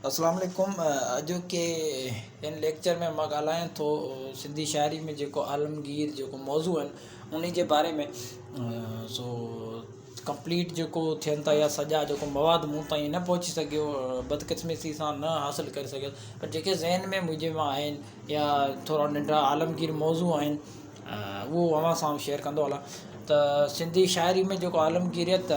السلام عليڪم اڄ ڪي ان ليڪچر ۾ مان ڳالهائين ٿو سنڌي شاعري ۾ جيڪو عالمگير جيڪو موضوع آهن انهي جي باري ۾ سو ڪمپليٽ جيڪو ٿين ٿا يا سڄا جيڪو مواد مون تائين نه پهچي سگهيو بدقسمتي سان نه حاصل ڪري سگهيس پر جيڪي ذهن ۾ مجھي مان آهن يا ٿورا ننڍا عالمگير موضوع آهن اهو اوهان سان شيئر ڪندو هلان ته سنڌي شاعري ۾ جيڪو عالمگيريت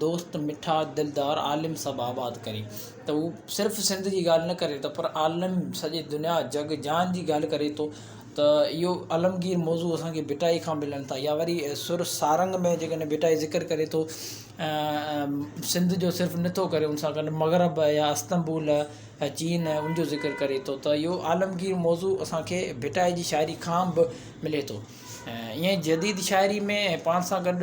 دوست مٺا دلدار عالم سڀ آباد ڪري ته هو صرف سنڌ جي ڳالهه نه ڪري ته پر عالم سڄي دنيا جڳ جهان جي ڳالهه ڪري ٿو ته اهو عالمگير موضوع اسان کي ڀٽائي کان ملن ٿا يا وري سر سارنگ ۾ جيڪڏهن ڀٽائي ذڪر ڪري ٿو سنڌ جو صرف نه ٿو ڪري ان سان گڏ مغرب يا استنبول يا چين ان جو ذڪر ڪري ٿو ته اهو عالمگير موضوع اسان کي ڀٽائي جي شاعري کان به ملي ٿو ۽ ائين جديد شاعري ۾ پاڻ سان گڏ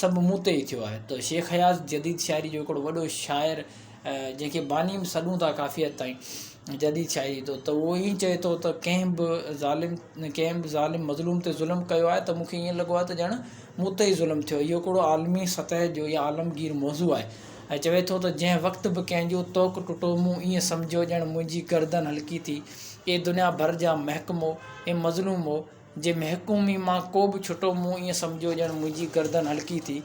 سڀ مون تي ئي ٿيو آهي ته شيخ اياز جديد شاعري جو هڪڙو وڏو شاعر جنهن کي باني به سڏون ٿا ڪافي حد تائين جديد شاعري جو ته اهو ائين چئي ٿو ته ڪنهن به ظالم ڪنهن به ظالم مظلوم تي ظلم ڪيو آهي ته مونکي ائين لڳو آهي ته ڄڻ مون تي ئي ظلم ٿيو اهو هڪڙو عالمي سطح جو يا عالمگير موضوع آهي ۽ چوي ٿو ته جنهن وقت به ڪنهن جو طوق ٽٽو مون ائين سمجهيو ڄڻ منهنجي گردن هلڪي ٿي اي دنيا ڀر جا محڪمو اي مظلومو جي محڪومي مان ڪو به ڇٽو مون ائين سمجهيو ڄڻ منهنجي گردن هلڪي ٿي.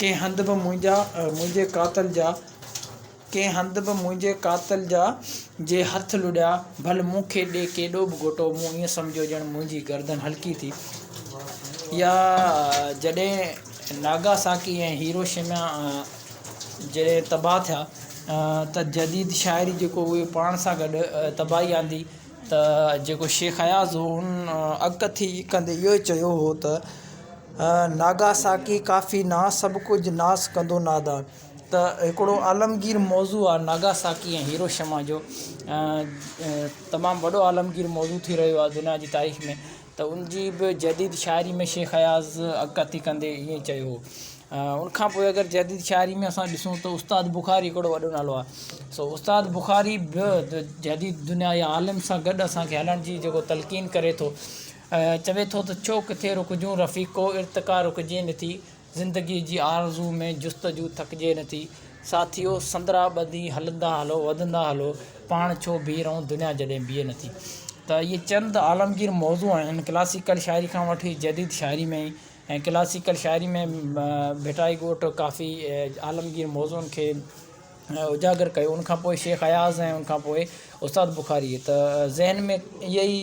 ڪنهن هنڌ به منهنجا منهنجي قاتل جا ڪنهن هنڌ به منهنجي قاتل جا جي هٿ لڏيا ڀل مون کي ڏي ڪيڏو به گهوٽو مون ائين سمجهيو ڄڻ منهنجي گردن هلڪي ٿي. يا جڏهن ناگاساڪي ۽ هيروشيما جڏهن تباهه ٿيا ته جديد شاعري جيڪو اهي پاڻ سان گڏ تباهي آندي ته جيڪو شيخ اياز هو ان اڳڪٿي ڪندي اهو ئي چيو هو ته ناگاساڪي ڪافي نه سڀ ڪجهه ناس ڪندو نادان ته هڪڙو عالمگير موضوع آهي ناگاساڪي ۽ هيروشيما جو تمام وڏو عالمگير موضوع ٿي رهيو آهي دنيا جي تاريخ ۾ ته ان جي به جديد شاعري ۾ شيخ اياز عڪاسي ڪندي ائين چيو هو ان کان پوء اگر جديد شاعري ۾ اسان ڏسون ته استاد بخاري هڪڙو وڏو نالو آهي سو استاد بخاري به جديد دنيا جي عالم سان گڏ اسان کي هلڻ جي جيڪو تلقين ڪري ٿو چوي ٿو ته ڇو ڪٿي رڪجون رفيقو ارتقا رڪجي نٿي زندگيء جي آرزو ۾ جستجو ٿڪجي نٿي ساٿيو سندرا ٻڌي هلندا هلو وڌندا هلو پاڻ ڇو بيهي رهون دنيا جڏهن بيهي نٿي ته اهي چند عالمگير موضوع آهن ڪلاسيڪل شاعري کان وٺي جديد شاعري ۾ ۽ ڪلاسيڪل شاعري ۾ ڀٽائي ڳوٺ ڪافي عالمگير موضوعن کي اجاگر ڪيو ان کان پوء شيخ اياز ۽ ان کان پوء استاد بخاري ته ذهن ۾ اهي ئي